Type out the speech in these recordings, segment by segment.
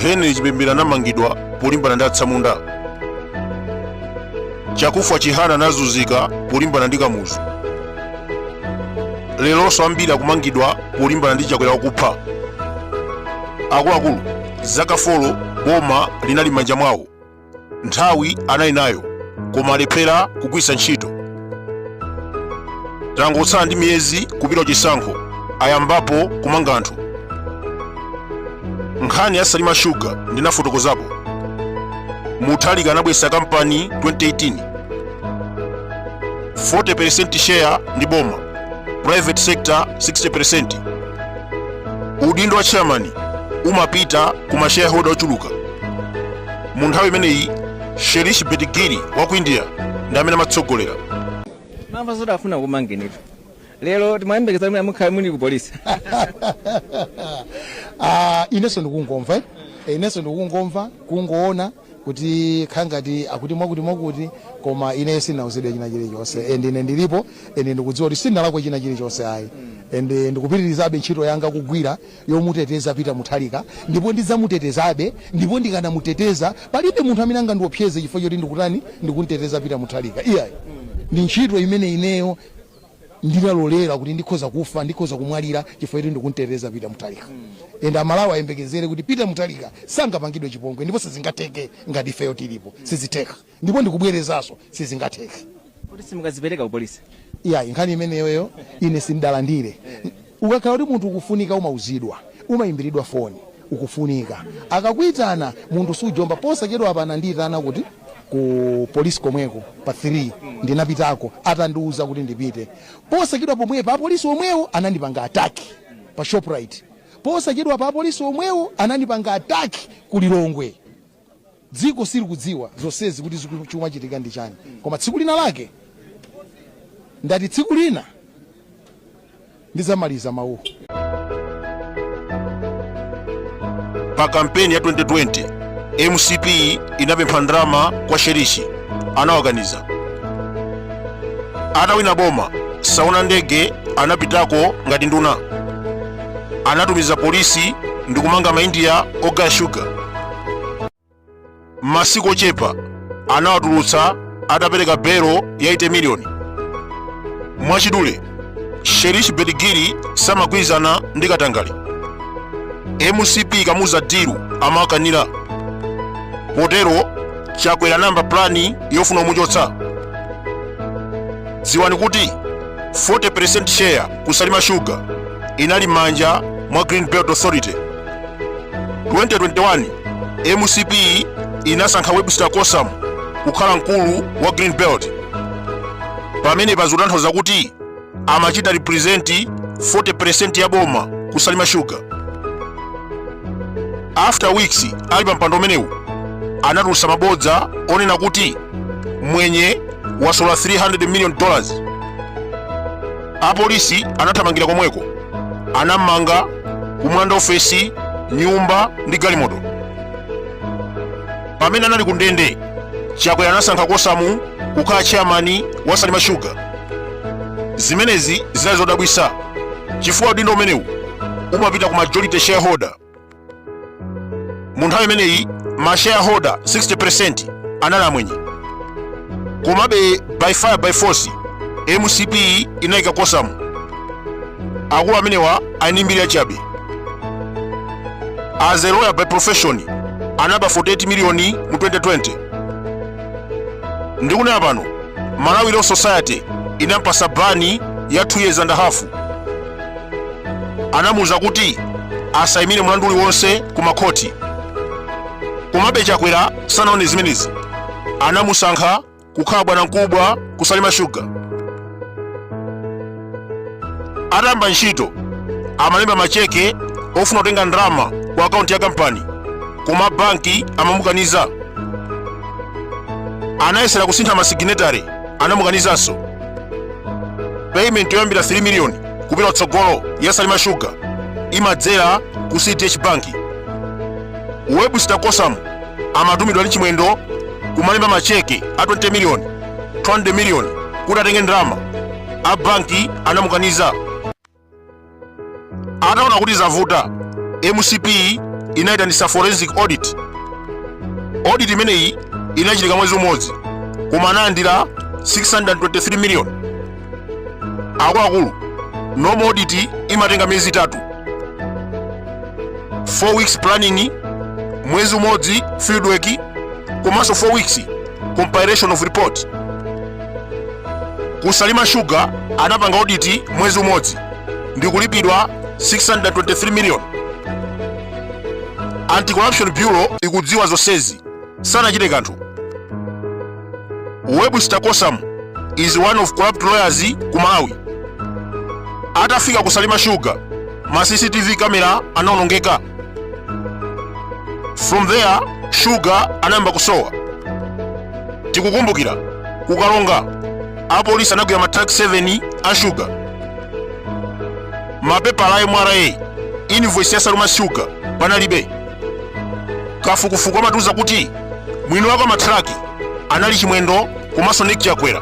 henry chipembere anamangidwa polimbana ndi atsamunda chakufwa chihana anazunzika polimbana ndi kamuzu leronso ambiri akumangidwa polimbana ndi chakwera wakupha akuluakulu za kafolo boma linali m'manja mwawo nthawi anali nayo koma alephera kugwiritsa ntchito tangotsala ndi miyezi kupita chisankho ayambapo kumanga anthu nkhani ya salima shuga ndinafotokozapo muthalika anabweretsa kampani 2018 40% share ndi boma private sector 60% udindo wa chairman umapita ku mashareholder ochuluka mu nthawi imeneyi shirish betgiri wa ku india ndi amene amatsogolera mwamva zoti afuna kukumangani pa lero timayembekeza kuti mukhala muli ku polisi Ah, inenso ndikungomva eh? Eh, inenso ndikungomva kungoona kuti kukhala ngati akuti mwakuti mwakuti koma ineyo sinauzidwe china chilichonse and ine ndilipo and ndikudziwa kuti sindinalakwe china chilichonse ayi and eh, ndikupitirizabe ntchito yanga kugwira yomuteteza Peter Mutharika ndipo ndidzamutetezabe ndipo ndikanamuteteza palibe munthu amene angandiopseze chifukwa choti ndikutani ndikunteteza Peter Mutharika iyayi ndi ntchito imene ineyo ndinalolera kuti ndikhoza kufa ndikhoza kumwalira chifukwa choti ndikunteteza Peter Mutharika ende amalawi ayembekezere kuti Peter Mutharika sangapangidwe chipongwe ndipo sizingateke ngati ifeyo tilipo sizitheka Ndipo ndikubwerezanso, sizingatheke. Kodi simukadzipereka ku police? Iyayi, nkhani imeneyoyo ine sindidalandire. Ukakhala kuti munthu ukufunika umauzidwa. Umayimbiridwa foni, ukufunika. Akakuitana, munthu sujomba. Posachedwapa anandiitana kuti ku police komweko pa 3. Ndinapitako atandiuza kuti ndipite. Posachedwa pomwepa apolisi omwewo anandipanga attack pa Shoprite. Posachedwapa apolisi omwewo anandipanga attack ku Lilongwe. Dziko silikudziwa zonsezi kuti zikumachitika ndi chani koma tsiku lina lake ndati tsiku lina ndidzamaliza mawuwo. Pa kampeni ya 2020 mcp inapempha ndalama kwa shirish anawakaniza atawina boma sauzi ndege anapitako ngati nduna anatumiza polisi ndi kumanga maindiya ogaya shuga m'masiku ochepa anawatulutsa atapereka belo ya 8 miliyoni mwachidule shirish betgiri samagwirizana ndi katangale mcp ikamuza dilu amawakanira potero chakwera anayamba plani yofuna kumuchotsa dziwani kuti 40% share ku Salima Sugar inali m'manja mwa Green Belt Authority. 2021 MCP inasankha Webster Kosam kukhala mkulu wa Green Belt. Pamenepa zikutanthauza kuti amachita represent 40% ya boma ku Salima Sugar. After weeks ali pa mpando umenewu anatulutsa mabodza onena kuti mwenye wasolola 300 million dollars apolisi anathamangira komweko anammanga kumulanda ofesi nyumba ndi galimoto pamene anali ku ndende chakwera anasankha kosamu kukhala chairmani wa salima shuga zimenezi zinali zodabwisa chifukwa udindo umenewu umapita ku majority shareholder mu nthawi imeneyi ma shareholder 60% anali amwenye komabe by fire by force mcp inayika kosamu akulu amenewa ali ndi mbiri yachabe as a lawyer by profession anaba 48 miliyoni mu 2020 ndikunena pano malawi law society inampatsa bani ya 2 years and a half anamuuza kuti asayimire mlandu uliwonse ku makhoti komabe chakwera sanawone zimenezi anamusankha kukhala bwanamkubwa ku salima shuga atayamba ntchito amalemba macheke ofuna kutenga ndalama ku akaunti ya kampani koma banki amamukaniza anayesera kusintha masiginetare anamukanizanso payment yoyambira 3 million kupita kutsogolo ya salima sugar imadzera ku cdh bank webster kosam amatumidwa ndi chimwendo kumalemba macheke a 20 million 20 million kuti atenge ndalama a banki anamukaniza ataona kuti zavuta mcp inayitanitsa forensic audit audit imeneyi inachitika mwezi umodzi koma analandira 623 million akuluakulu normal audit imatenga miyezi itatu 4 weeks planning mwezi umodzi fieldwork komanso 4 weeks compilation of report Ku Salima Sugar anapanga oditi mwezi umodzi ndi kulipidwa 623 million. Anti-Corruption Bureau ikudziwa zonsezi, sanachite kanthu. Webster Kosam is one of corrupt lawyers ku Malawi. Atafika ku Salima Sugar, ma CCTV kamera anawonongeka. from there shuga anayamba kusowa tikukumbukira kukalonga apolisi anagwira mathiraki 7 a shuga mapepala a mra invoice ya salima shuga panalibe kafukufuku amatiuza kuti mwini wake wa mathiraki anali chimwendo komanso nick chakwera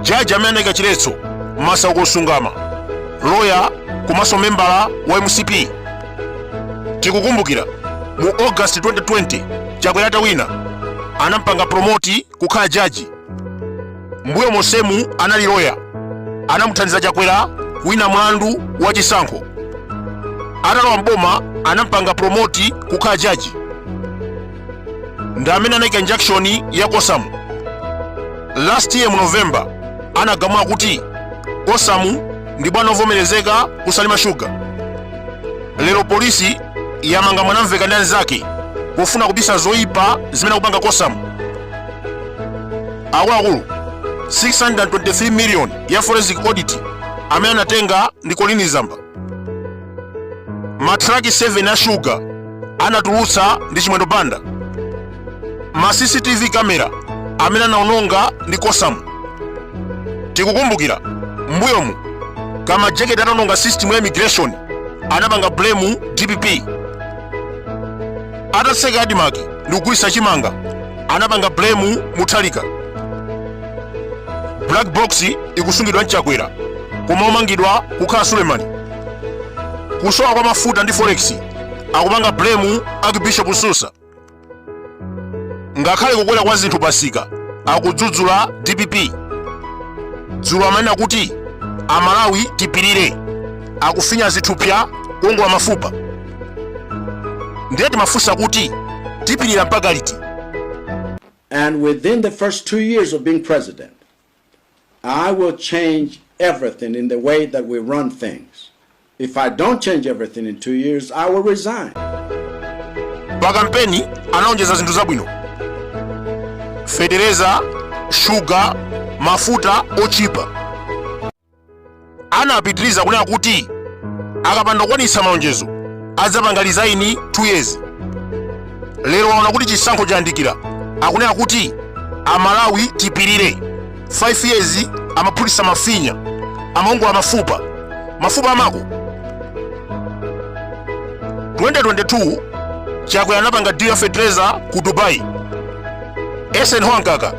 jaji amene anaika chiletso masauko msungama loya komanso membala wa mcp tikukumbukira mu august 2020 chakwera atawina anampanga promoti kukhala jaji mbuyo monsemu anali loya anamuthandiza chakwera kuwina mlandu wa chisankho atalowa mboma anampanga promoti kukhala jaji ndi amene anaika injunction ya kosamu last year mu november anagamula kuti kosamu ndi bwana ovomerezeka kusalima shuga lero polisi yamanga mwanamveka ndi anzake pofuna kubisa zoyipa zimene akupanga kosamu akuluakulu 623 million ya forensic audit amene anatenga ndi colleen zamba mathiraki 7 a shuga anatulutsa ndi chimwendo banda ma cctv kamera amene anaononga ndi kosamu tikukumbukira mbuyomu kamajeketi ataononga system ya immigration anapanga blame dpp atatseka adimaki ndi kugulitsa chimanga anapanga blame mutharika black box ikusungidwa mchakwera koma omangidwa kukhala sulemani kusowa kwa mafuta ndi forex akupanga blame archbishop msusa ngakhale kukwera kwa zinthu pamsika akudzudzula dpp dzulo amanena kuti amalawi tipirire akufinya zithupsa kuongola mafupa ndiye timafunsa kuti tipirira mpaka liti And within the first two years of being president, I will change everything in the way that we run things. If I don't change everything in two years, I will resign. pa kampeni analonjeza zinthu zabwino fetereza shuga mafuta ochipa anapitiriza kunena kuti akapanda kukwanitsa malonjezo adzapanga lizaini 2 years lero waona kuti chisankho chayandikira akunena kuti amalawi tipirire 5 years amaphulisa mafinya amaongola mafupa mafupa amako 2022 chakwera anapanga deal ya fertilizer ku dubai eisenhower mkaka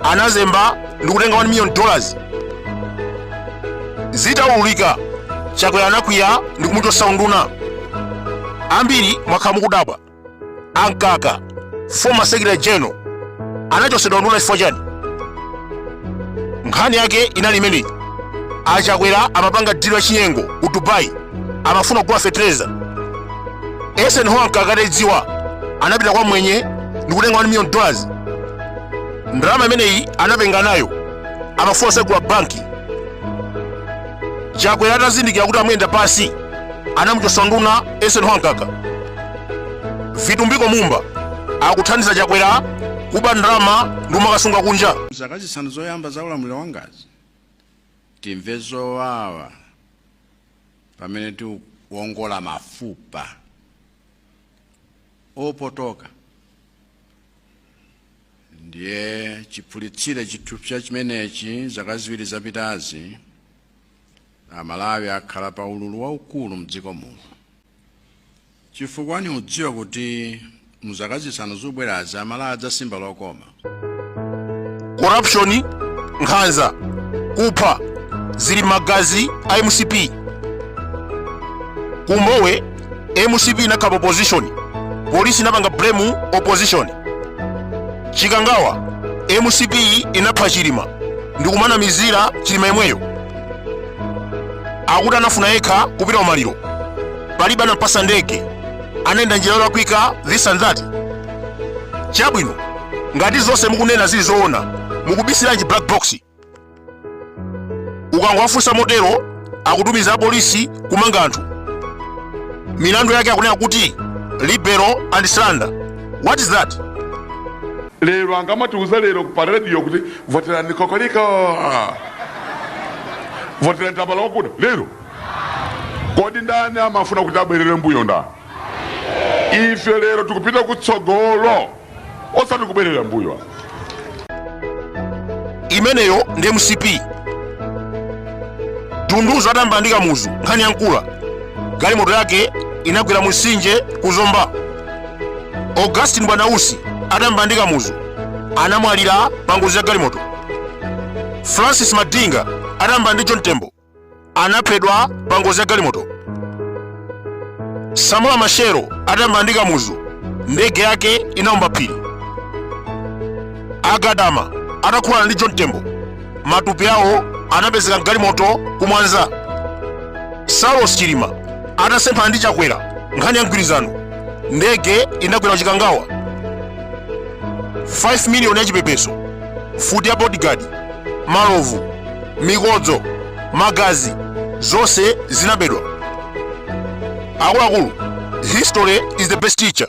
anazemba ndikutenga 1 million dollars zitaululika chakwera anakwiya ndi kumuchotsa unduna ambiri mwakhala mukudabwa a mkaka former secretary general anachotsedwa unduna chifukwa chani nkhani yake inali imeneyi achakwera amapanga deal ya chinyengo ku dubai amafuna kugula fetereza eisenhower mkaka ataidziwa anapita kwa mwenye ndikutenga 1 million dollars ndalama imeneyi anapenga nayo amafuna kutsegula banki chakwera atazindikira kuti amuyenda pansi anamuchotsa unduna eisenhower mkaka vitumbiko mumba akuthandiza chakwera kuba ndalama ndi kumakasunga kunja zaka zisanu zoyamba za ulamuliro wangazi timve zowawa pamene tiwongola mafupa opotoka ndiye chiphulitsire chithupsa chimenechi zaka ziwiri zapitazi amalawi akhala pa ululu waukulu mdziko muno chifukwa ndikudziwa kuti mu zaka zisanu zikubwerazi amalawi adzasimba lokoma corruption nkhanza kupha zili m'magazi a mcp ku mbowe mcp inakhapa opposition polisi inapanga blame opposition chikangawa mcp inapha chilima ndikumanamizira chilima yemweyo akuti anafuna yekha kupita umaliro palibe anampasa ndege anayenda njira yolakwika this and that chabwino ngati zonse mukunena zili zoona mukubisiranji black box ukangowafunsa motero akutumiza apolisi kumanga anthu milandu yake akunena kuti libel and slander what is that lero angamatiuza lero pa radio kuti voterani kokoliko voterani tambala wakuda lero kodi ndani amafuna kuti abwerere mbuyo ndani ife lero tikupita kutsogolo osati kubwerera mbuyo apa imeneyo ndi mcp dunduzu atayambana ndi kamuzu nkhani ya nkula galimoto yake inagwera mu mtsinje ku zomba augustine bwanausi atayambana ndi kamuzu anamwalira pa ngozi ya galimoto francis madinga atayambana ndi john tembo anaphedwa pa ngozi ya galimoto samora machero atamba ndi kamuzu ndege yake inaomba phiri agadama atakhulana ndi john tembo matupi awo anapezeka mgalimoto kumwanza saulos chilima atasemphana ndi chakwera nkhani ya mgwirizano ndege inagwera chikangawa 5 miliyoni ya chipepeso mfuti ya bodyguard malovu mikodzo magazi zonse zinabedwa akuluakulu history is the best teacher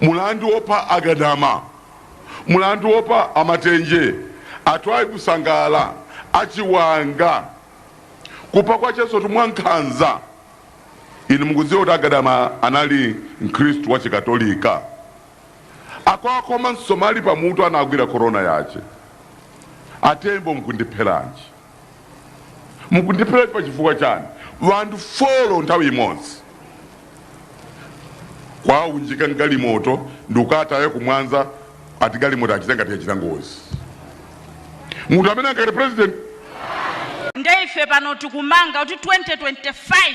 mulandu wopha a Gadama, mulandu wopha a Matenje, a Twaibu Sangala, a Chiwanga, kupha kwa chisoti mwa nkhanza. Inu mukudziwa kuti a Gadama anali Mkhristu wa Chikatolika. Akwaakhoma msomali pamutu anagwira korona yache. A Tembo mkundipheranji? mukundiphera pa chifukwa chani vanthu folo nthawi imodzi kwaunjika mgalimoto ndikukataya kumwanza ati galimoto achite ngati yachita ngozi munthu amene angati president nde ife pano tikumanga kuti 2025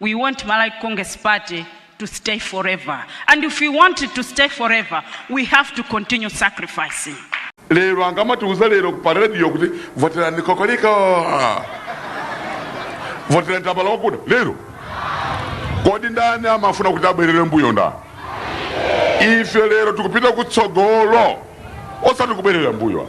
we want Malawi Congress Party to stay forever and if we want it to stay forever we have to continue sacrificing. lero angamatiuza lero pa radio kuti voterani kokoliriko voterani tambala wakuda lero kodi ndani amafuna kuti abwerere mbuyo ndani ife lero tikupita kutsogolo osati kubwerera mbuyo